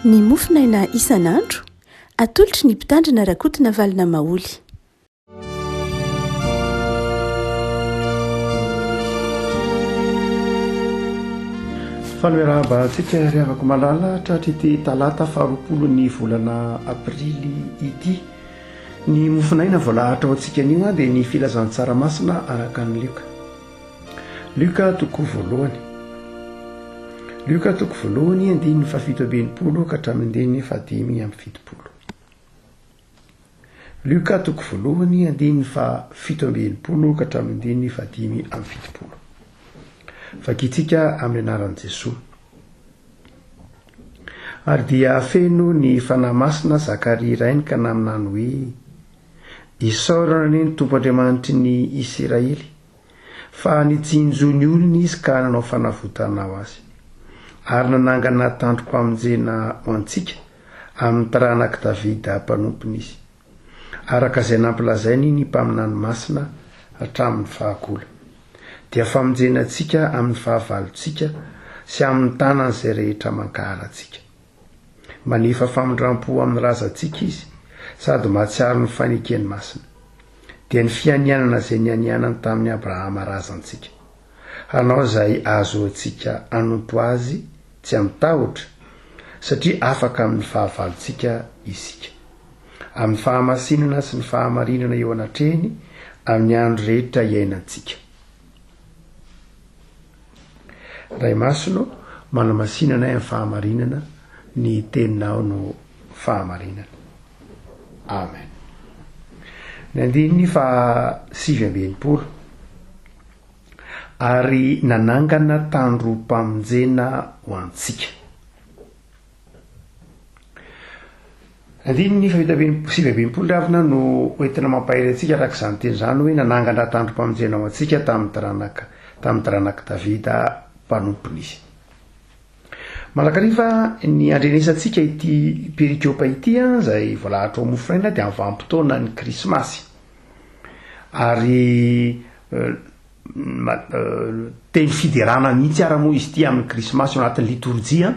Ny mofonaina isan'andro, atolotry ny mpitandrina Rakotonavalona Maholy. Fanoerahabahantsika ry havako malala tratry ity talata faharoapolo ny volana aprily ity. Ny mofonaina voalahatra ao antsika anio dia ny filazantsara masina araka ny lioka. Lioka toko voalohany Lioka toko voalohany andininy fahafito amby enimpolo ka hatramin'ny andininy fahadimy amby fitopolo Lioka toko voalohany andininy fahafito amby enimpolo ka hatramin'ny andininy fahadimy amby fitopolo Vakintsika amin'ny anaran'i Jesoa Ary dia feno ny Fanahy Masina Zakaria rainy ka naminany hoe Isaorana anie ny Tompo Andriamanitry ny Isiraely, fa nitsinjo ny olony Izy ka nanao fanavotana ho azy, ary nanangana tandrom-pamonjena ho antsika amin'ny taranak'i Davida mpanompony Izy, araka izay nampilazainy ny mpaminany masina hatramin'ny fahagola. Dia famonjena antsika amin'ny fahavalontsika sy amin'ny tanan'izay rehetra mankahala antsika. Manefa famindram-po amin'ny razantsika izy sady mahatsiaro ny fanekeny masina. Dia ny fianianana izay nianianany tamin'i Abrahama razantsika. Hanao izay ahazoantsika hanompo azy tsy amin-tahotra, satria afaka amin'ny fahavalontsika isika. Amin'ny fahamasinana sy ny fahamarinana eo anatrehiny amin'ny andro rehetra iainantsika. Ray Masina ô, manamasina anay amin'ny fahamarinana, ny Teninao no fahamarinana. Amen. Ny andininy faha sivy amby enimpolo, Ary nanangana tandrom-pamonjena ho antsika. Andininy fahefatra amby sivy amby enimpolo ravina no hoentina mampahery antsika araka izany teny izany hoe nanangana tandrom-pamonjena ho antsika tamin'ny taranaka tamin'ny taranak'i Davida mpanompony izy. Mandrakariva ny andrenesantsika ity perikopa ity an, izay voalahatra ao Mofinaina dia amin'ny vanim-potoana ny Krismasy. Ary Teny fiderana mihitsy ara moa izy ity amin'ny krismasy ao anatin'ny litorjia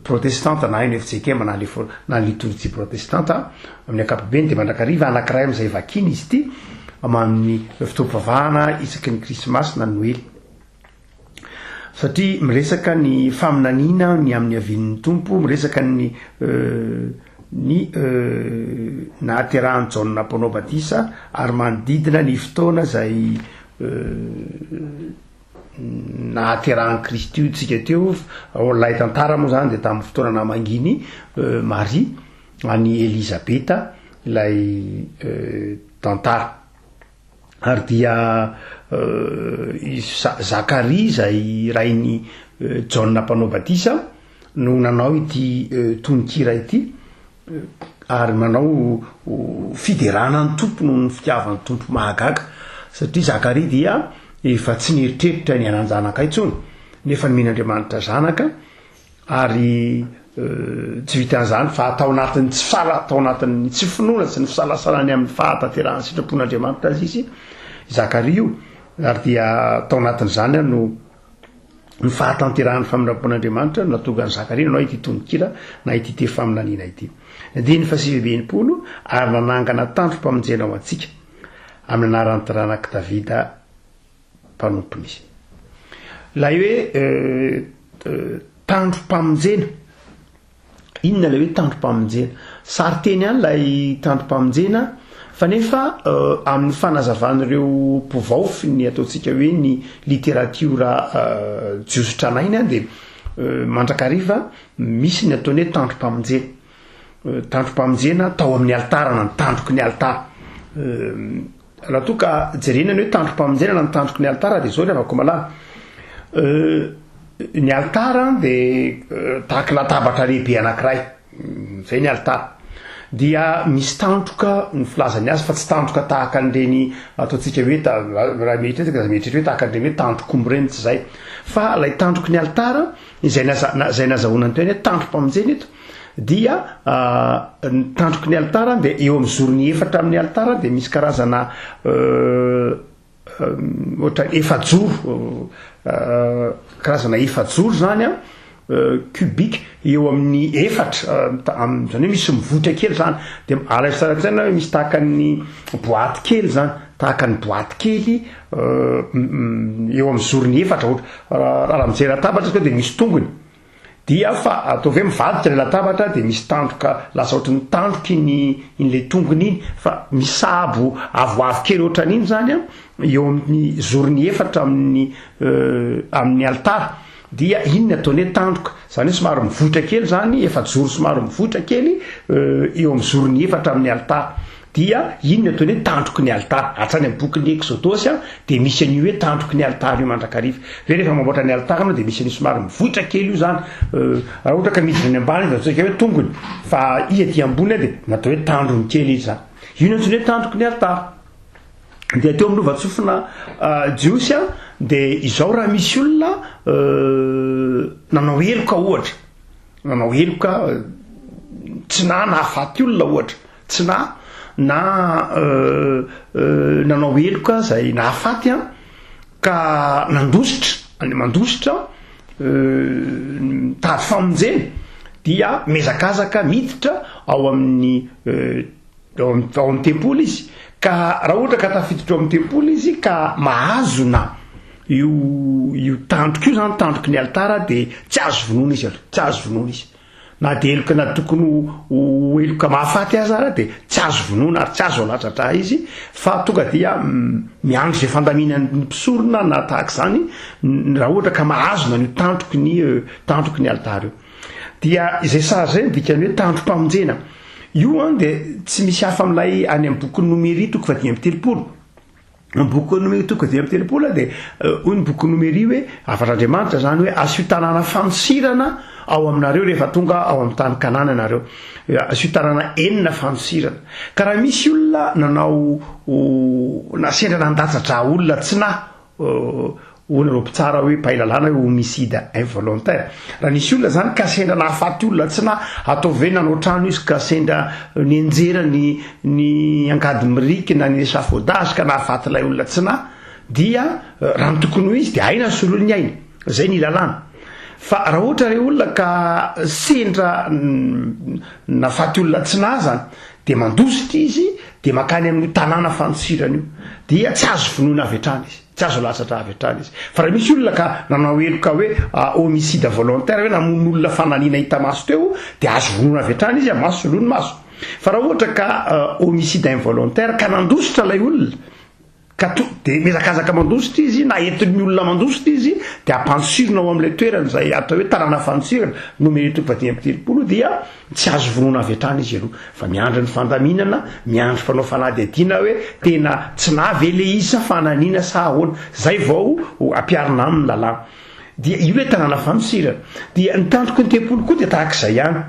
protestanta na NFJKM na na litorjia protestanta amin'ny ankapobeny dia mandrakariva anankiray amin'izay vakina izy ity amin'ny fotoam-pivavahana isaky ny krismasy na noely. Satria miresaka ny faminaniana ny amin'ny havian'ny Tompo, miresaka ny ny nahaterahan'i Jaona mpanao batisa ary manodidina ny fotoana izay nahaterahan'i Kristy io tsika teo ao an'ilay tantara moa izany dia tamin'ny fotoana namangian'i Maria an'i Elizabeta ilay tantara. ary dia i Zakaria izay rain'i Jaona Mpanao Batisa no nanao ity tononkira ity ary manao fiderana ny Tompo noho ny fitiavan'ny Tompo mahagaga satria Zakaria dia efa tsy nieritreritra ny hanan-janaka intsony nefa nomen'Andriamanitra zanaka ary jivitan' izany fa atao anatin' ny tsy fala atao anatin' ny tsy finoana sy ny fisalasalana ny amin' ny fahatanterahan' ny sitrapon' Andriamanitra azy izy Zakaria io ary dia tao anatin' izany ary no ny fahatanterahan' ny famindram-pon' Andriamanitra no natonga ny Zakaria nanao ity tononkira na ity teny faminaniana ity andininy fahasivy amby enimpolo ary nanangana tandrom-pamonjena ho antsika amin' ny anaran' ny taranak' i Davida mpanompony izy. Ilay hoe tandrom-pamonjena, inona ilay hoe tandrom-pamonjena? Sarinteny ihany ilay tandrom-pamonjena fa nefa amin'ny fanazavan'ireo mpivaofy ny ataontsika hoe ny literatiora jiosy tranainy dia mandrakariva misy ny ataony hoe tandrom-pamonjena. Tandrom-pamonjena tao amin'ny alitara na ny tandroky ny alitara. Raha toa ka jerena ny hoe tandrom-pamonjena na ny tandroky ny alitara dia izao ry havako malala. Ny alitara dia tahaka latabatra lehibe anankiray. Izay ny alitara. Dia misy tandroka ny filazany azy fa tsy tandroka tahaka an'ireny ataontsika hoe raha mieritreritra dia mieritreritra hoe tahaka an'ireny hoe tandrokomby ireny tsy izay. Fa ilay tandroky ny alitara izay izay nazahoana ny tenany hoe tandrom-pamonjena eto Dia ny tandroky ny alitara dia eo amin'ny zorony efatra amin'ny alitara dia misy karazana ohatran'ny efajoro karazana efajoro zany a cubique eo amin'ny efatra amin'izany hoe misy mivoitra kely zany dia alaivo tsara an-tsaina hoe misy tahaka ny boaty kely zany tahaka ny boaty kely eo amin'ny zorony efatra ohatra raha mijery latabatra izy ka dia misy tongony Dia fa ataovy hoe mivadika ilay latabatra dia misy tandroka lasa ohatran'ny tandroka iny in'ilay tongony iny fa misabo avoavo kely ohatran'iny zany an eo amin'ny zorony efatra amin'ny amin'ny alitara dia iny ny ataony hoe tandroka zany hoe somary mivoitra kely zany efajoro somary mivoitra kely eo amin'ny zorony efatra amin'ny alitara Dia iny no ataony hoe tandroky ny alitara. Hatrany amin'ny bokin'ny Eksodosy dia misy an'io hoe tandroky ny alitara io mandrakariva. Ve rehefa mamboatra ny alitara ianao dia misy an'io somary mivoitra kely io izany? Raha ohatra ka midina any ambany izy dia ataontsika hoe tongony, fa izy aty ambony dia natao hoe tandrony kely izy izany. Io no antsoina hoe tandroky ny alitara. Dia teo amin'ny lovantsofina jiosy dia izao raha misy olona nanao heloka ohatra, nanao heloka tsy nanahafaty olona ohatra, Tsy na na nanao heloka izay nahafaty an, ka nandositra any mandositra mitady famonjena dia mihazakazaka miditra ao amin'ny ao amin'ny tempoly izy ka raha ohatra ka tafiditra ao amin'ny tempoly izy ka mahazona io io tandroka io zany tandroky ny alitara dia tsy azo vonoina izy aloha, tsy azo vonoina izy. Na dia heloka na tokony ho heloka mahafaty aza ary dia tsy azo vonoina ary tsy azo aladradraha izy fa tonga dia miandry izay fandaminan'ny mpisorona na tahaka izany raha ohatra ka mahazo na an'io tandroky ny tandroky ny alitara io. Dia izay sary izay no dikan'ny hoe tandrom-pamonjena. Io an dia tsy misy hafa amin'ilay any amin'ny bokin'i Nomery toko fahadimy amby telopolo. Ny bokin'ny Nomery toko dimy amby telopolo dia hoy ny bokin'ny Nomery hoe hafatr'Andriamanitra izany hoe asio tanàna fanosirana ao aminareo rehefa tonga ao amin'ny tany Kanana ianareo. Asio tanàna enina fanosirana. Ka raha misy olona nanao na sendra nandatsa-dra olona tsy nahy Hoana ireo mpitsara hoe mpahay lalàna hoe homicide involontaire? Raha nisy olona izany ka sendra nahafaty olona tsy na ataovy hoe nanao trano izy ka sendra nianjera ny ny angady miriky na ny échafaudage ka nahafaty ilay olona tsy na dia raha ny tokony ho izy dia aina ny solony ny ainy. Izay ny lalàna. Fa raha ohatra ilay olona ka sendra nahafaty olona tsy na izany dia mandositra izy dia mankany amin'io tanàna fanosirana io dia tsy azo vonoina avy hatrany izy. Tsy azo latsatra avy hatrany izy. Fa raha misy olona ka nanao heloka hoe homicide volontaire, hoe namono olona fanalina hita maso teo, dia azo vonoina avy hatrany izy, maso soloiny maso. Fa raha ohatra ka homicide involontaire, ka nandositra ilay olona, ka to, dia mihazakazaka mandositra izy, na entin'ny olona mandositra izy, dia ampantsirina ao amin'ilay toerana izay atao hoe tanàna fantsirana, nomero toko fahadimy amby telopolo, dia Tsy azo vonoina avy hatrany izy aloha fa miandry ny fandaminana, miandry mpanao fanadihadiana hoe tena tsy nahy ve le izy sa fananina sa ahoana, zay vao ampiarina aminy lalàna. Dia io le tanàna fanosirana. Dia ny tandroky ny tempoly koa dia tahak'izay ihany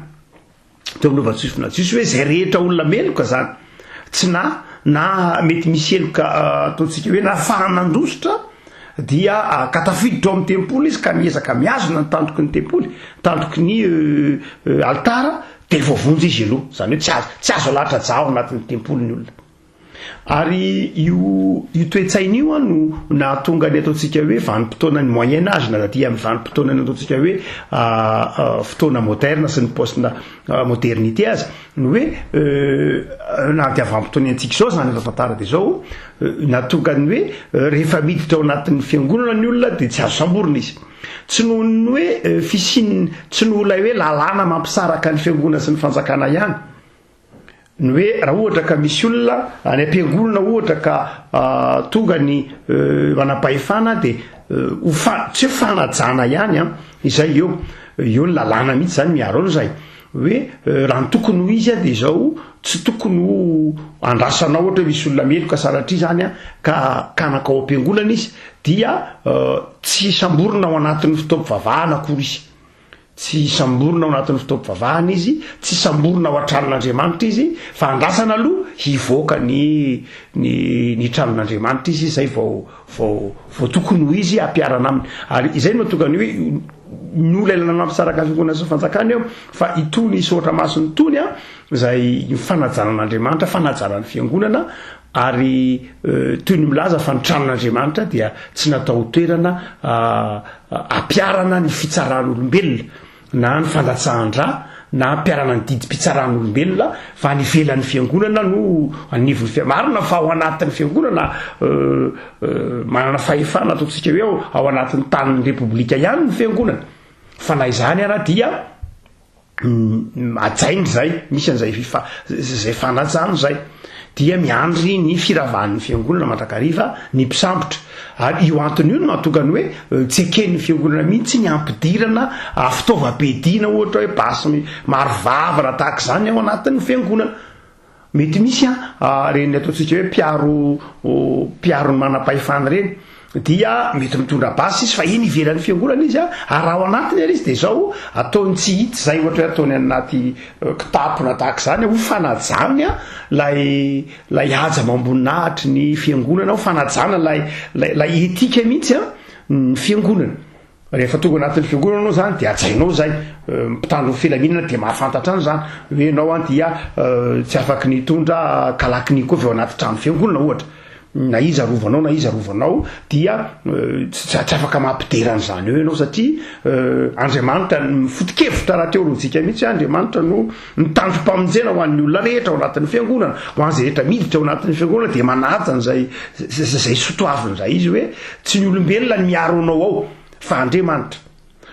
teo amin'ny lovan-tsofina jiosy hoe zay rehetra olona meloka zany. tsy na na mety misy heloka ataontsika hoe na fara nandositra dia ka tafiditra ao amin'ny tempoly izy ka miezaka mihazona ny tantoky ny tempoly, tantoky ny alitara dia voavonjy izy aloha, izany hoe tsy azo tsy azo alahatra aja ao anatin'ny tempoly ny olona. Ary io io toe-tsaina io a no nahatonga ny ataontsika hoe vanim-potoanan'ny moyen âge na aty amin'ny vanim-potoanan'ny ataontsika hoe fotoana moderna sy ny post modernité azy ny hoe na dia vanim-potoana iantsika izao izany efa tantara dia izao, nahatonga ny hoe rehefa miditra ao anatin'ny fiangonana ny olona dia tsy azo samborina izy. Tsy noho ny hoe fisian'ny, tsy noho ilay hoe lalàna mampisaraka ny fiangonana sy ny fanjakana ihany, ny hoe raha ohatra ka misy olona any am-piangonana ohatra ka tonga ny manam-pahefana dia ho, tsy hoe fanajana ihany an, izay eo, eo ny lalàna mihitsy izany miaro an'izay. Hoe raha ny tokony ho izy dia izao, tsy tokony ho andrasana ohatra hoe misy olona meloka sanatria izany ka kanaka ao am-piangonana izy dia tsy hisamborina ao anatin'ny fotoam-pivavahana akory izy. Tsy hisamborina ao anatin'ny fotoam-pivavahana izy, tsy hisamborina ao an-tranon'Andriamanitra izy fa andrasana aloha hivoaka ny ny ny tranon'Andriamanitra izy izay vao vao vao tokony ho izy ampiharana aminy ary izay no atokany hoe ny olona ilana mampisaraka fiangonana sy fanjakana eo fa itony soratra masiny tony a izay ny fanajanan'Andriamanitra fanajanan'ny fiangonana ary euh, toy ny milaza fa ny tranon'Andriamanitra dia tsy natao toerana euh, ampiharana ny fitsaran'olombelona na ny fandatsahan-dra na hampiharana ny didim-pitsaran'olombelona fa any ivelan'ny fiangonana no anivon'ny fiangonana. Marina fa ao anatin'ny fiangonana manana fahefana ataontsika hoe ao, ao anatin'ny tanin'ny repoblika ihany ny fiangonana fa na izany ara dia hajaina izay, misy an'izay izay fanajana izay. dia miandry ny firavahan'ny fiangonana mandrakariva ny mpisambotra ary io antony io no mahatonga ny hoe tsy eken'ny fiangonana mihitsy ny hampidirana fitaovam-piadiana ohatra hoe basy maro vavana tahaka izany ao anatin'ny fiangonana mety misy a reny ataontsika hoe mpiaro mpiaro ny manam-pahefana ireny dia mety mitondra basy izy fa eny ivelan'ny fiangonana izy a, ary raha ao anatiny ary izy dia izao ataony tsy hita izay ohatra hoe ataony any anaty eh, kitapo na tahaka izany ho fanajany a lay lay haja amam-boninahitry ny fiangonana ho fanajana lay lay lay etika mihitsy a ny fiangonana Rehefa tonga anatin'ny fiangonana anao zany dia hajainao zay mpitandro ny filaminana dia mahafantatra any zany hoe ianao an dia tsy afaky ny hitondra kalaknikof eo anaty trano fiangonana ohatra na iza arovanao na iza arovanao dia tsy afaka mampidera an'izany eo ianao satria Andriamanitra ny foto-kevitra rahateo lojika mihitsy Andriamanitra no Ny tandrom-pamonjena ho an'ny olona rehetra ao anatin'ny fiangonana, ho an'izay rehetra miditra ao anatin'ny fiangonana dia manaja an'izay izay sotoaviny izay izy hoe tsy ny olombelona ny miaro anao ao fa Andriamanitra.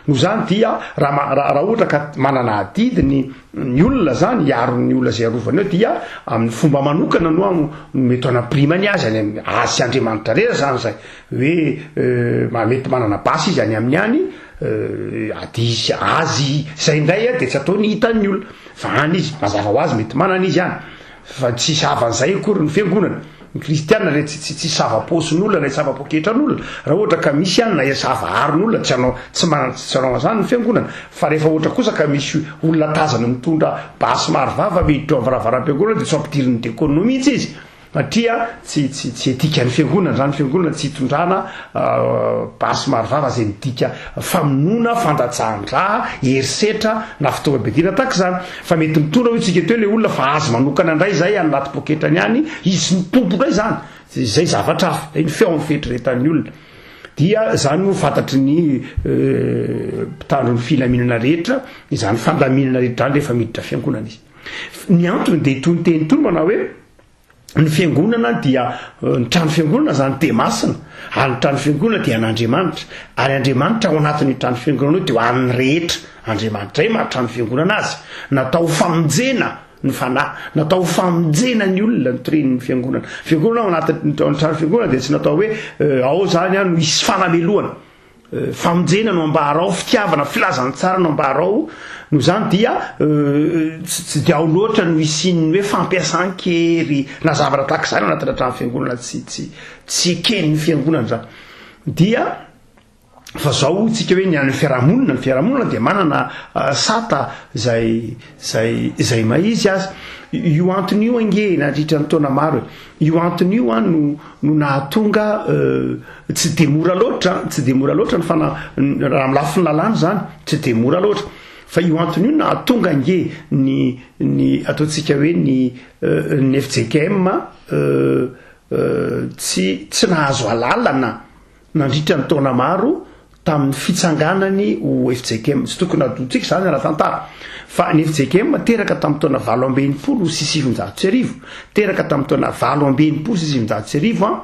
Noho izany dia raha raha ohatra ka manana adidy ny ny olona izany hiaro ny olona izay arovany eo dia amin'ny fomba manokana no mety hanampirimany azy any azy sy Andriamanitra rera izany izay. Hoe mba mety manana basy izy any aminy any, ady hisy azy zay indray dia tsy ataony hitan' ny olona fa any izy mazava ho azy mety manana izy any fa tsy savan' izay akory ny fiangonana. Ny kristiana re tsy tsy sava-paosin' olona na tsy sava-poketra an' olona raha ohatra ka misy any na sava aron' olona tsy hanao tsy manana tsy hanao an'izany ny fiangonana fa rehefa ohatra kosa ka misy olona tazana mitondra basy maro vava miditra ao am-varavaram-piangonana dia tsy ampidirin' ny dekôna mihitsy izy. Satria tsy tsy tsy dikan'ny fiangonana zany, fiangonana tsy itondrana basy maro vava zay midika famonoana, fandatsahan-dra, herisetra na fitaovam-piadiana tahaka izany. Fa mety mitondra hoy tsika teo le olona fa azy manokana indray zay any anaty poketrany any, izy no tompo indray zany, zay zavatra hafa, zay ny feon'ny fieritreretan'ny olona. Dia zany no fantatry ny mpitandro ny filaminana rehetra, izany fandaminana rehetra zany rehefa miditra fiangonana izy. Ny antony dia itony teny itony manao hoe, ny fiangonana dia eh, ny trano fiangonana zany dia masina ary ny trano fiangonana dia an'andriamanitra ary andriamanitra ao anatin'ny trano fiangonana io dia ho an'ny rehetra andriamanitra zay mahatrano fiangonana azy natao famonjena ny fanahy natao famonjena ny olona nytoren'ny fiangonana fiangonana ao anatin'ny trano fiangonana dia tsy natao hoe eh, ao zany a no hisy fanamelohana famonjena no ambara ao, fitiavana, filazantsara no ambara ao, noho izany dia tsy dia ao loatra no hisian'ny hoe fampiasan-kery na zavatra tahaka izany anatina trano fiangonana tsy tsy tsy eken'ny fiangonana izany. Dia fa zao hoy tsika hoe ny an'ny fiarahamonina, ny fiarahamonina dia manana sata izay Izay izay may izy aza. Io antony io ange nandritra ny taona maro e. Io antony io an no no nahatonga tsy dia mora loatra an, tsy dia mora loatra ny fana raha amin'ny lafiny lalàna izany, tsy dia mora loatra. Fa io antony io nahatonga ange ny ny ataontsika hoe ny ny fjkm tsy tsy nahazo alalana. nandritra ny taona maro tamin'ny fitsanganany ho FJKM. Tsy tokony hadoantsika izany ara-tantara fa ny FJKM teraka tamin'ny taona valo amby enimpolo sy sivinjato sy arivo, teraka tamin'ny taona valo amby enimpolo sy sivinjato sy arivo an,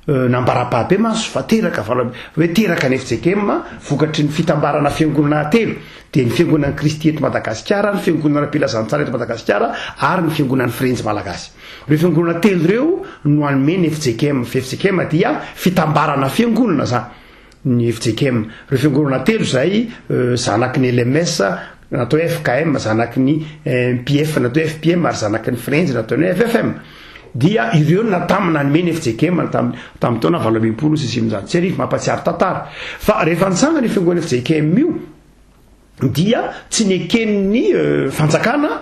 euh, nambara-pahabe mantsy fa teraka valo amby, hoe teraka ny FJKM vokatry ny fitambarana fiangonana telo, dia ny fiangonan'i Kristy eto Madagasikara, ny fiangonana Ampilazanintsara eto Madagasikara ary ny fiangonan'ny Firenjy Malagasy. Ireo fiangonana telo ireo no hanome ny FJKM. FJKM dia fitambarana fiangonana izany, ny FJKM. Ireo fiangonana telo izay zanaky ny LMS na atao hoe FKM, zanaky ny MPF na atao hoe FPM ary zanaky ny Frenjy na ataony hoe FFM dia ireo no natamin'ny nanome ny FJKM tamin'ny tamin'ny taona valo ambin'ny folo sy sivinjato sy arivo, mampahatsiaro tantara. Fa rehefa nitsangana io fiangonana FJKM io dia tsy neken'ny fanjakana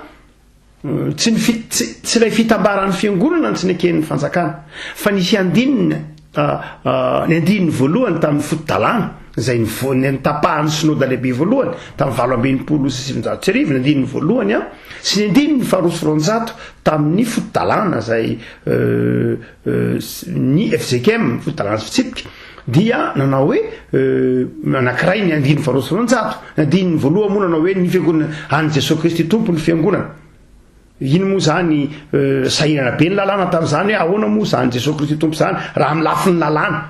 Tsy ny fi, tsy, tsy ilay fitambaran'ny Fiangonana no tsy neken'ny Fanjakana, fa nisy andininy, a, a, ny andininy voalohany tamin'ny foto-dalàna, izay nivo, ny nitapahan'ny Synoda Lehibe Voalohany, tamin'ny valo amby enimpolo sy sivinjato sy arivo, ny andininy voalohany an, sy ny andininy faharoa sy roanjato tamin'ny foto-dalàna, izay, euh, ny fjkm fotodrana sy fitsipika dia nanao hoe anakiray ny andiny faharoa sy roanjato ny andiny voaloha moa nanao hoe ny fiangonana any jesosy kristy tompo ny fiangonana iny moa zany sahirana be ny lalàna tamin'izany hoe ahoana moa zany jesosy kristy tompo zany raha amin'ny lafiny lalàna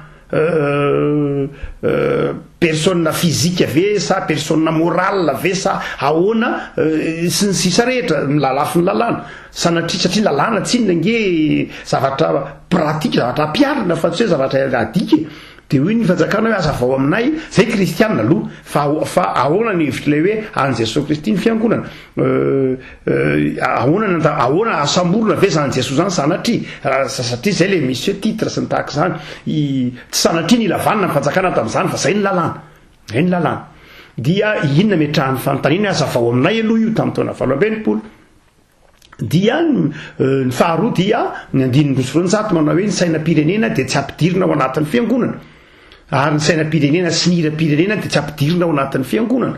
Personne physique ve sa personne morale ve sa ahoana sy ny sisa rehetra ny lalafin'ny lalàna. Sanatria satria lalàna tsinona ange zavatra pratique zavatra ampiharina fa tsy hoe zavatra adika e. Dia hoy ny fanjakana hoe hazavao aminay, zay kristiana aloha, fa fa ahoana ny hevitr'ilay hoe an'i Jesoa Kristy ny fiangonana. ahoana ny anta- ahoana ahasamborina ve zany jesoa zany sanatria raha sa- satria zay le misy hoe titre sy ny tahaka izany i- tsy sanatria ny lavanina ny fanjakana tamin'izany fa zay ny lalàna zay ny lalàna dia inona metrahan'ny fanontaniana hoe aza vao aminay aloha io tamin'ny taona valo amby enimpolo dia ny euh, ny faharoa dia ny andininy roa sy roanjato manao hoe ny sainam-pirenena dia tsy ampidirina ao anatin'ny fiangonana ary ny sainam-pirenena sy ny hiram-pirenena dia tsy ampidirina ao anatin'ny fiangonana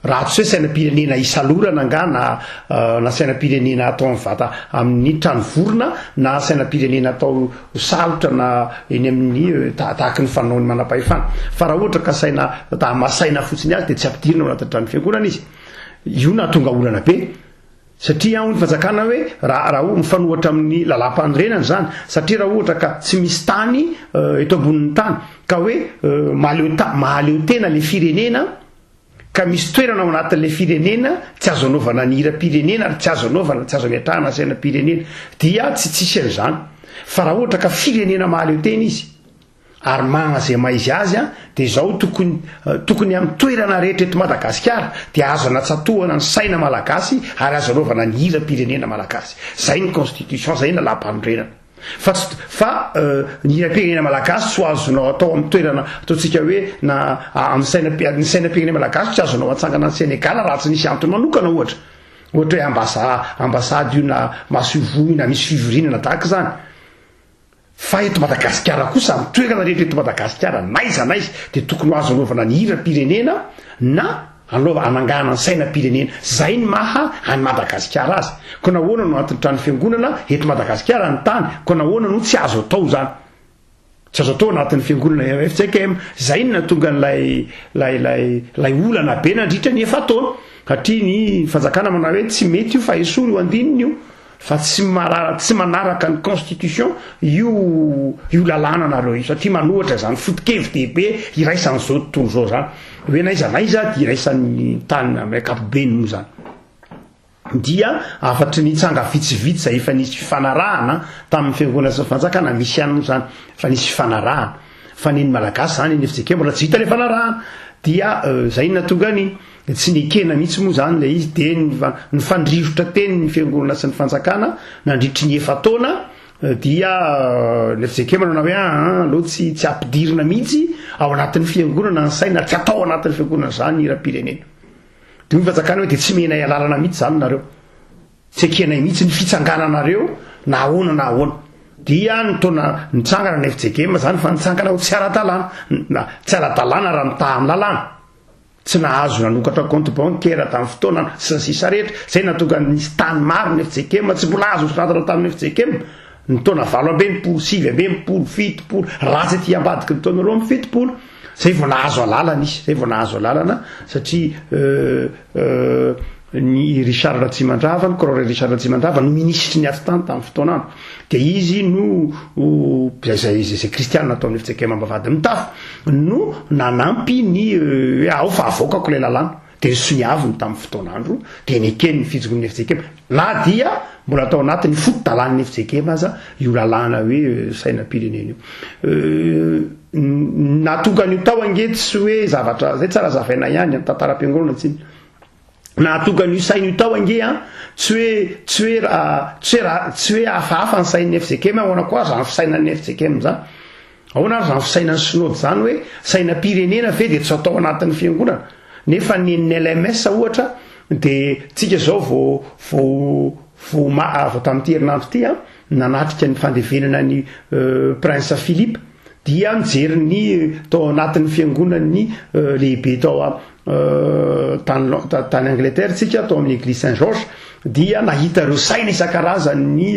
Raha tsy hoe sainam-pirenena isalorana angaha na na sainam-pirenena atao amin'ny vata amin'ny trano vorona na sainam-pirenena atao ho salotra na eny amin'ny ta- tahaky ny fanaon'ny manam-pahefana. Fa raha ohatra ka saina ta hamasaina fotsiny azy dia tsy ampidirina ao anatin'ny tranon'ny fiangonana izy. Io nahatonga olana be. Satria hoy ny fanjakana hoe raha raha ho mifanohatra amin'ny lalàmpanorenana izany, satria raha ohatra ka tsy misy tany eto ambonin'ny tany ka hoe mahaleo ta- mahaleo tena ilay firenena ka misy toerana ao anatin'ilay firenena tsy azo anaovana ny hiram-pirenena ary tsy azo anaovana, tsy azo ametrahana sainam-pirenena, dia tsy tsisy an'izany. Fa raha ohatra ka firenena mahaleo tena izy, ary magna izay maha izy azy, dia izao tokony, eh, tokony amin'ny toerana rehetra eto Madagasikara, dia azo anatsatohana ny saina malagasy ary azo anaovana ny hiram-pirenena malagasy. Izay ny Constitution, izay ny lalàmpanorenana. Fa tsy, fa ny hiram-pirenena malagasy tsy ho azonao atao amin'ny toerana ataontsika hoe na amin'ny saina, ny sainam-pirenena malagasy tsy azonao atsangana any Senegal raha tsy nisy antony manokana ohatra. Ohatra hoe ambasa, ambasady io na masoivoho io na misy fivoriana na tahaka izany. Fa eto Madagasikara kosa, amin'ny toerana rehetra eto Madagasikara, n'aiza n'aiza dia tokony ho azo anaovana ny hiram-pirenena na Anaova anangahana ny saina pirenena. Zay ny maha any Madagasikara azy. Ko nahoana no antin'ny trano fiangonana eto Madagasikara ny tany? Ko nahoana no tsy azo atao zany? Tsy azo atao anatin'ny fiangonana FJKM. Zay ny nahatonga an'ilay lay lay lay olana be nandritra ny efa-taona. Satria ny fanjakana manao hoe tsy mety io fa esory io andininy io. fa tsy marara tsy manaraka ny constitution io io lalàna nareo io satria manohatra izany foto-kevy dehibe iraisan'izao tontolo izao zany hoe naiza naiza dia iraisan'ny tany amin'ny ankapobeny moa zany dia afatry ny tsanga vitsivitsy izay efa nisy fifanarahana tamin'ny fiangonana sy fanjakana misy ihany moa zany fa nisy fifanarahana fa ny ny malagasy zany ny fijekembola tsy vita le fanarahana dia euh, zay natonga ny dia tsy nekena mihitsy moa izany ilay izy, dia nifandrirotra teny ny fiangonana sy ny fanjakana nandritry ny efa-taona, eh, dia eh, ilay fizekema nanao hoe ah, ah aleo tsy tsy ampidirina mihitsy ao anatin'ny fiangonana ny saina, tsy atao anatin'ny fiangonana izany hiram-pirenena. Dia hoy ny fanjakana hoe dia tsy menay alalana mihitsy izany nareo, tsy ekenay mihitsy ny fitsangananareo na ahoana na ahoana dia ny taona nitsangana ny FJGM zany fa nitsangana ho tsy ara-dalàna na tsy ara-dalàna raha mitaha amin'ny lalàna tsy nahazo nanokatra compte bancaire tamin'ny fotoana sy ny sisa rehetra, izay nahatonga ny nisy tany maro ny FJKM tsy mbola azo nosoratana tamin'ny FJKM ny taona valo amby enimpolo, sivy amby enimpolo, fitopolo, raha tsy ety ambadiky ny taona roa amby fitopolo, izay vao nahazo alalana izy, izay vao nahazo alalana satria euh, euh, ny Richard Ratsimandrava, ny Craore Richard Ratsimandrava no minisitry ny atitany tamin'ny fotoanana. Dia izy no izay izay izay kristiana ataon'ny FCKM ambavahady mitafo no nanampy ny euh, hoe ao fa avoakako ilay lalàna. Dia ny soniaviny tamin'ny fotoanandro dia neken'ny fijongon'ny FCKM. Na dia mbola tao anatin'ny foto-dalàn'ny FCKM aza io lalàna hoe euh, sainam-pirenena io. Euh, natonga an'io tao ange tsy hoe zavatra zay tsara zavaina ihany amin'ny tantaram-piangonana tsiny. Nahatonga an'io saina io tao ange an, tsy hoe tsy hoe tsy hoe tsy hoe hafahafa ny sain'ny FJKM ahoana koa zany fisainan'ny FJKM zany. Ahoana ary zany fisainan'ny synody zany hoe sainam-pirenena ve dia tsy atao anatin'ny fiangonana. Nefa ny ny LMS ohatra dia tsika zao vao vao vao ma vao tamin'ity herinandro ity an nanatrika ny fandevenana ny Prince Philippe. Dia nijery ny tao anatin'ny fiangonan'ny lehibe tao tany Angleterre tsika tao amin'ny Eglise Saint Georges dia nahita ireo saina isan-karazany ny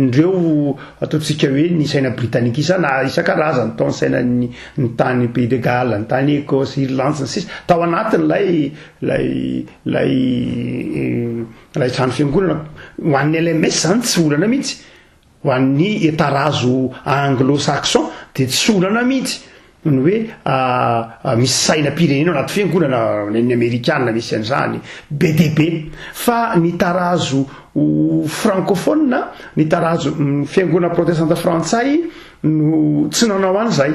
ireo ataontsika hoe ny saina britannique isana isan-karazany tao ny sainan'ny ny tany Pays de Galles, ny tany Ecosse, Irlande sy ny sisa tao anatin'ilay lay lay lay trano fiangonana. Ho an'ny LMS zany tsy olana mihitsy. Ho an'ny etarazo anglo-saxon dia tsy olana mihitsy ny hoe misy sainam-pirenena ao anaty fiangonana, nen'ny amerikana misy an'izany be dia be. Fa ny tarazo frankofonina, ny tarazo fiangonana protestanta frantsay no tsy nanao an'izay.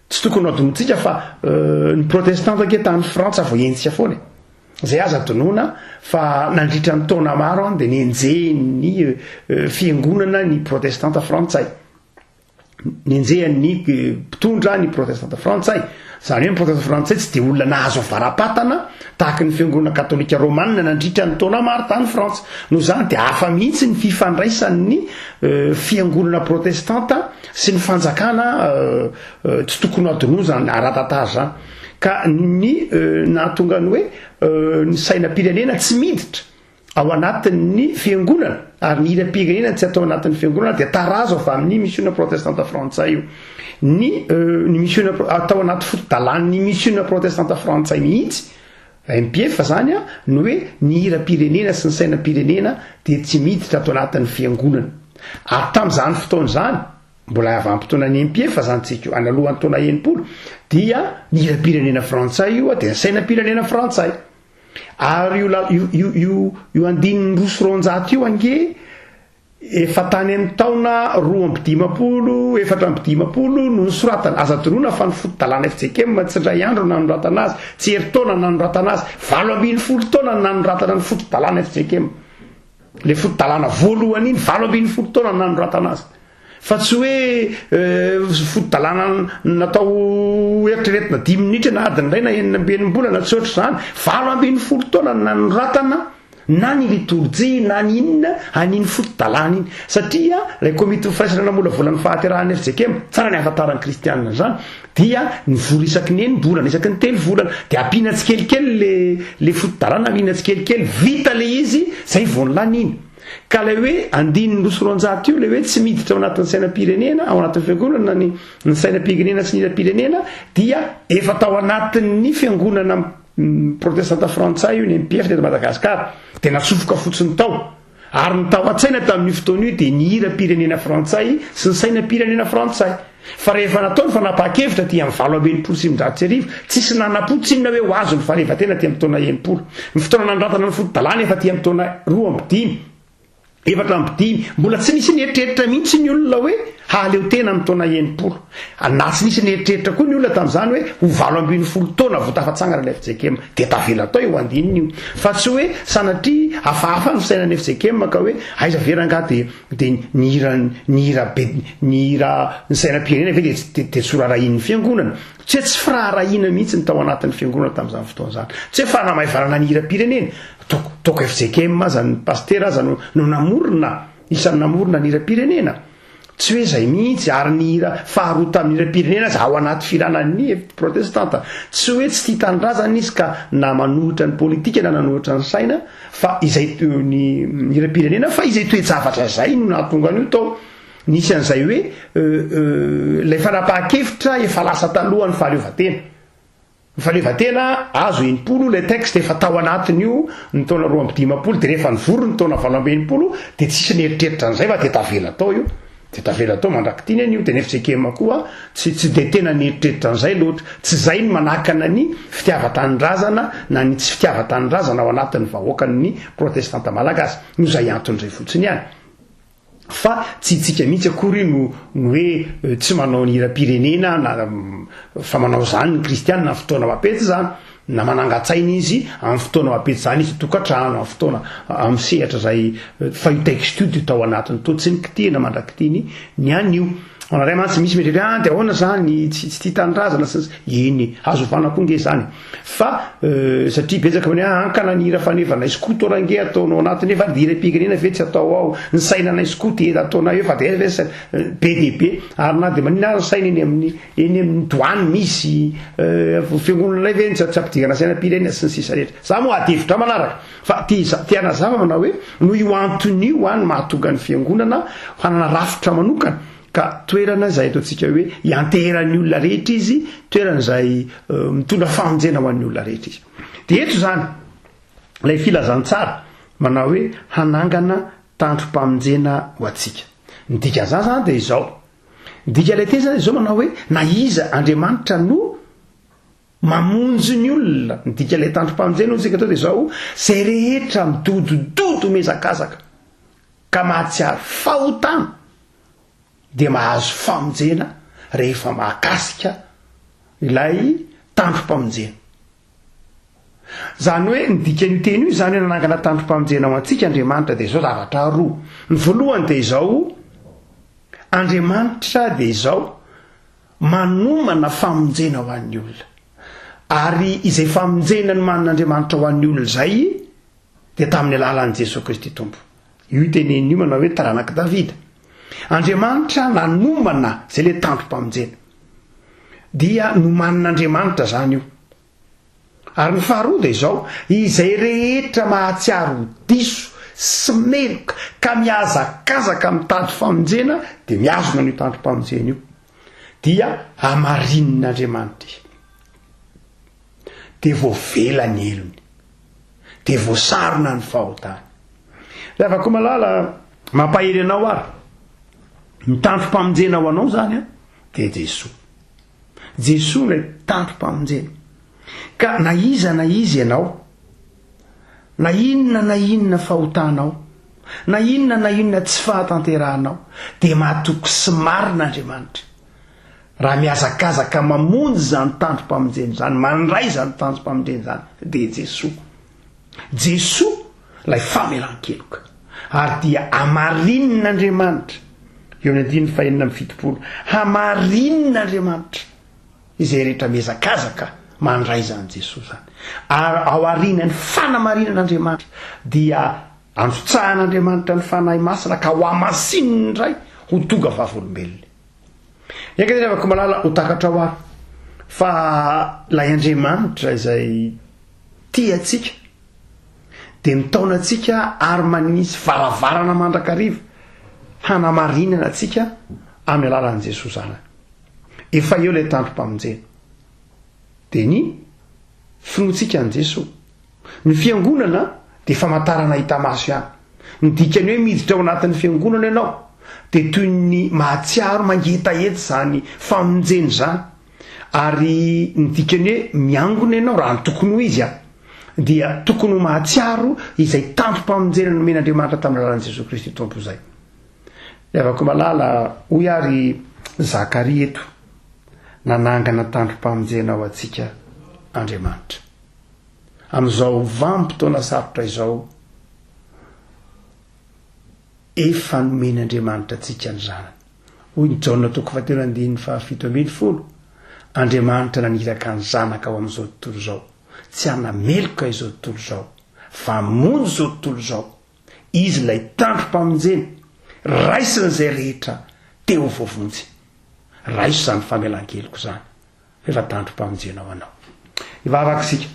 Tsy tokony ho adinotsika fa ny protestanta ange tany Frantsa vao henjika foana e. Zay aza adinoana fa nandritra ny taona maro an dia nenjehin'ny fiangonana ny protestanta frantsay. Nenjehan'ny mpitondra ny protestanta frantsay. Zany hoe ny protestanta frantsay tsy dia olona nahazo varapatana tahaka ny fiangonana katolika romanina nandritra ny taona maro tany Frantsa. Noho izany dia hafa mihitsy ny fifandraisan'ny fiangonana protestanta sy ny fanjakana tsy tokony adinoa zany aratatary zany ka ny nahatonga ny hoe ny sainam-pirenena tsy miditra ao anatin'ny fiangonana ary ny hiram-pirenena tsy atao anatin'ny fiangonana dia tarazo avy amin'ny missiona protestanta frantsay io ny ny missiona atao anaty foto-dalan'ny missiona protestanta frantsay mihitsy MPF zany a, ny hoe ny hiram-pirenena sy ny sainam-pirenena dia tsy miditra ato anatin'ny fiangonana. Ary tamin'izany fotoana izany, mbola havam-potoanan'ny MPF zany tsika io, analohan'ny taona enimpolo, dia ny hiram-pirenena frantsay io a, dia ny sainam-pirenena frantsay. Ary io la, io, io, io, io andininy roa sy roanjato io ange, Efa tany amin'ny taona roa amby dimampolo, efatra amby dimampolo no nisoratana. Aza adinoina fa ny foto-dalàna FJKM tsy indray andro no nanoratana azy, tsy herintaona no nanoratana azy, valo ambin'ny folo taona no nanoratana ny foto-dalàna FJKM. Ilay foto-dalàna voalohany iny, valo ambin'ny folo taona no nanoratana azy. Fa tsy hoe eh, foto-dalàna natao eritreretina dimy minitra na adiny iray na enina amby enim-bolana, tsy ohatr'izany. Valo ambin'ny folo taona no nanoratana na ny litorjia na ny inona an'iny foto-dalàna iny satria ilay komitin'ny firaisana namolavola ny fahaterahan'ny fjkm tsara ny ahafantaran'ny kristianina an'izany dia nivory isaky ny enim-bolana isaky ny telo volana dia ampiana tsikelikely le le foto-dalàna ampiana tsikelikely vita le izy zay vao ny lany iny ka ilay hoe andininy roa sy roanjato io ilay hoe tsy miditra ao anatin'ny sainam-pirenena ao anatin'ny fiangonana ny ny sainam-pirenena sy ny hiram-pirenena dia efa tao anatin'ny fiangonana Ny protestanta frantsay io, ny MPF teto Madagasikara, dia natsofoka fotsiny tao. Ary ny tao an-tsaina tamin'io fotoana io dia ny hiram-pirenena frantsay sy ny sainam-pirenena frantsay. Fa rehefa natao ny fanapahan-kevitra aty amin'ny valo amby enimpolo sy sivinjato sy arivo, tsisy nana-po tsinona hoe ho azon'ny fahaleovantena aty amin'ny taona enimpolo. Ny fotoana nanandratana ny foto-dalàna efa aty amin'ny taona roa amby dimy. Efatra amby dimy, mbola tsy nisy nieritreritra mihitsy ny olona hoe hahaleo tena amin'ny taona enimpolo. Na tsy nisy nieritreritra koa ny olona tamin'izany hoe ho valo ambin'ny folo taona vao tafatsangana ilay FJKM. Dia tavela tao io andininy io. Fa tsy hoe sanatria hafahafa ny fisainan'ny FJKM ka hoe aiza ve rangaha dia dia ny hira ny hira be ny hira ny sainam-pirenena ve dia dia dia tsy horaharahian'ny fiangonana. Tsy hoe tsy firaharahiana mihitsy ny tao anatin'ny fiangonana tamin'izany fotoana izany. Tsy hoe fanamaivanana ny hiram-pirenena. Toko, toko fjkm aza ny pasitera aza no, no namorona, isan'ny namorona ny hiram-pirenena. Tsy hoe zay mihitsy, ary ny hira faharoa tamin'ny hiram-pirenena aza ao anaty firanan'ny protestanta. Tsy hoe tsy tia tanindrazana izy ka na manohitra ny politika na nanohitra ny saina, fa izay to- ny hiram-pirenena, fa izay toe-javatra izay no nahatonga an'io tao. Nisy an'izay hoe euh, euh, ilay fanapahan-kevitra efa lasa talohan'ny fahaleovantena. Ny fahaleovantena azo enimpolo, ilay texte efa tao anatin'io ny taona roa amby dimampolo, dia rehefa nivory ny taona valo amby enimpolo dia tsisy nieritreritra an'izay fa dia tavela tao io, dia tavela tao mandrak'ity anie io, dia ny FJKM koa tsy tsy dia tena nieritreritra an'izay loatra, tsy izay no manakana ny fitiavan-tanindrazana na ny tsy fitiavan-tanindrazana ao anatin'ny vahoakan'ny protestanta malagasy, noho izay antony izay fotsiny ihany. Fa tsy itsika mihitsy akory no no hoe tsy manao ny hiram-pirenena na fa manao izany ny kristiana amin'ny fotoana mapety izany na manangan-tsaina izy amin'ny fotoana mapety izany izy tokantrano amin'ny fotoana amin'ny sehatra izay fa io texte io dia tao anatiny to tsy ny kitihana mandrakitiny ny anio anareo mantsy misy mieritreritra ah dia ahoana izany tsy tsy tia tanindrazana sy ny sisa eny azo ovana koa nge izany Fa satria betsaka hoe ah, hankana ny hira faneva anay skoto range ataonao anatiny eo fa ry hiram-pirenena ve tsy atao ao, ny saina anay skoto ela taona eo fa dia aiza ve saina, be dia be, ary na dia maninona ary ny saina eny amin'ny eny amin'ny douane misy, fiangonana anay ve tsy ampidirana sainam-pirenena sy ny sisa rehetra. Za moa ady hevitra manaraka fa te hiza- te hanazava manao hoe noho io antony io an mahatonga ny fiangonana hanana rafitra manokana, Ka toerana izay ataontsika hoe ianteheran'ny olona rehetra izy, toerana izay mitondra famonjena ho an'ny olona rehetra izy. Dia eto izany, ilay filazantsara manao hoe hanangana tandrom-pamonjena ho antsika. Ny dikan'izany izany dia izao. Ny dikan'ilay teny izany izao manao hoe na iza Andriamanitra no mamonjy ny olona. Ny dikan'ilay tandrom-pamonjena hoy isika eto dia izao, izay rehetra midodododo mihazakazaka ka mahatsiaro fahotana dia mahazo famonjena rehefa mahakasika ilay tandrom-pamonjena. Izany hoe ny dikan'io teny io izany hoe nanangana tandrom-pamonjena ho antsika Andriamanitra dia izao zavatra roa. Ny voalohany dia izao, Andriamanitra dia izao manomana famonjena ho an'ny olona. Ary izay famonjena nomanin'Andriamanitra ho an'ny olona izay dia tamin'ny alalan'i Jesoa Kristy Tompo. Io iteneniny io manao hoe taranak'i Davida. Andriamanitra nanomana izay ilay tandrom-pamonjena. Dia nomanin'Andriamanitra izany io. Ary ny faharoa dia izao, izay rehetra mahatsiaro ho diso sy meloka ka mihazakazaka mitady famonjena dia mihazona an'io tandrom-pamonjena io. Dia hamarinin'Andriamanitra izy. Dia voavela ny helony. dia voasarona ny fahotany. Ry havako malala, mampahery anao ary ny tantim-pamonjena ho anao zany an, dia Jesoa. Jesoa ilay tantim-pamonjena. Ka na iza na iza ianao, na inona na inona fahotanao, na inona na inona tsy fahatanterahanao, dia matoky sy marina Andriamanitra. Raha mihazakazaka mamonjy izany tanjom-pamonjena izany, mandray izany tanjom-pamonjena izany, dia i Jesoa. Jesoa ilay famelan-keloka. Ary dia hamarinin'Andriamanitra, eo amin'ny andininy fahenina amby fitopolo, hamarinin'Andriamanitra izay rehetra mihazakazaka mandray izany Jesoa izany. Ary ao arinan'ny fanamarinan'Andriamanitra dia androtsahan'Andriamanitra ny Fanahy Masina ka ho hamasinin'ny Ray ho tonga vavolombelona. Eka ry havako malala ho takatrao aho fa lay Andriamanitra izay tia antsika dia mitaona antsika ary manisy varavarana mandrakariva hanamarinana antsika amin'ny alalan'i Jesoa zanany. Efa eo ilay tandrom-pamonjena. Dia ny Finoantsika an'i Jesoa. Ny fiangonana dia famantarana hita maso ihany. Ny dikan'ny hoe miditra ao anatin'ny fiangonana ianao dia toy ny mahatsiaro mangetaheta izany famonjena izany. Ary ny dikan'ny hoe miangona ianao raha ny tokony ho izy an, dia tokony ho mahatsiaro izay tampom-pamonjena nomen'Andriamanitra tamin'ny alalan'i Jesoa Kristy Tompo izay. Levako malala, hoy ary Zakaria eto. nanangana tandrom-pamonjena ho antsika Andriamanitra. Amin'izao vanim-potoana sarotra izao, efa nomeny Andriamanitra antsika ny Zanany. Hoy ny Jaona toko fahatelo andininy fahafito ambin'ny folo, Andriamanitra naniraka ny Zanaka ho amin'izao tontolo izao, tsy hanameloka izao tontolo izao, fa hamonjy izao tontolo izao, Izy ilay tandrom-pamonjena, raisiny izay rehetra te ho voavonjy. Raiso izany famelan-keloka izany, rehefa tandrom-pamonjena ho anao. Hivavaka isika.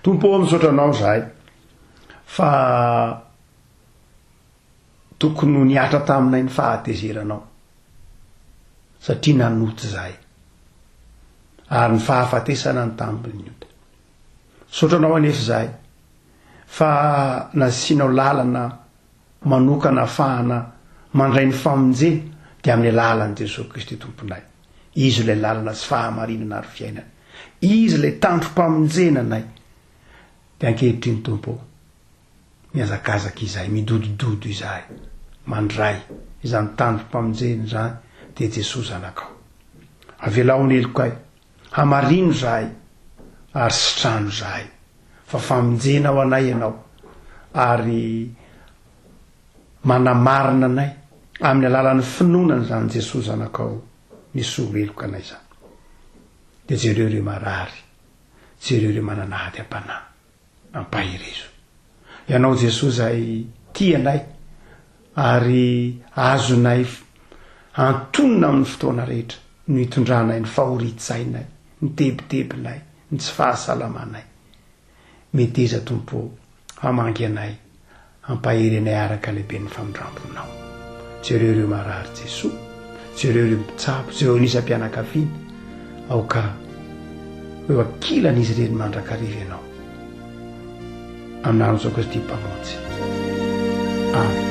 Tompo, misaotra anao izahay fa tokony ho nihatra taminay ny fahatezeranao satria nanota izahay ary ny fahafatesana ny tambin'ny ota. Misaotra anao anefa izahay fa nasianao lalana manokana ahafahana mandray ny famonjena dia amin'ny alalan'i Jesoa Kristy Tomponay. Izy ilay lalana sy fahamarinana ary fiainana. Izy ilay tandrom-pamonjena anay. Dia ankehitriny Tompo ô, mihazakazaka izahay, midodododo izahay, mandray izany tandrom-pamonjena izany dia Jesoa Zanakao. Avelao ny helokay Hamarino izahay ary sitrano izahay fa famonjena ho anay Ianao ary manamarina anay amin'ny alalan'ny finoana an'izany Jesoa Zanakao nisolo heloka anay izany. Dia jereo ireo marary, jereo ireo manana hadiam-panahy. Ampaherezo Ianao Jesoa izay tia anay ary azonay antonona amin'ny fotoana rehetra no itondranay ny fahorian-tsainay, ny tebitebinay, ny tsy fahasalamanay. Meteza Tompo o, hamangy anay Hampahery anay araka halehiben'ny famindramponao. Jereo ireo marary Jesoa, jereo ireo mpitsabo, jereo ny isam-pianakaviana, aoka ho eo ankilan'izy ireny mandrakariva Ianao. Amin'An'i Jesoa Kristy Mpamonjy. Amen.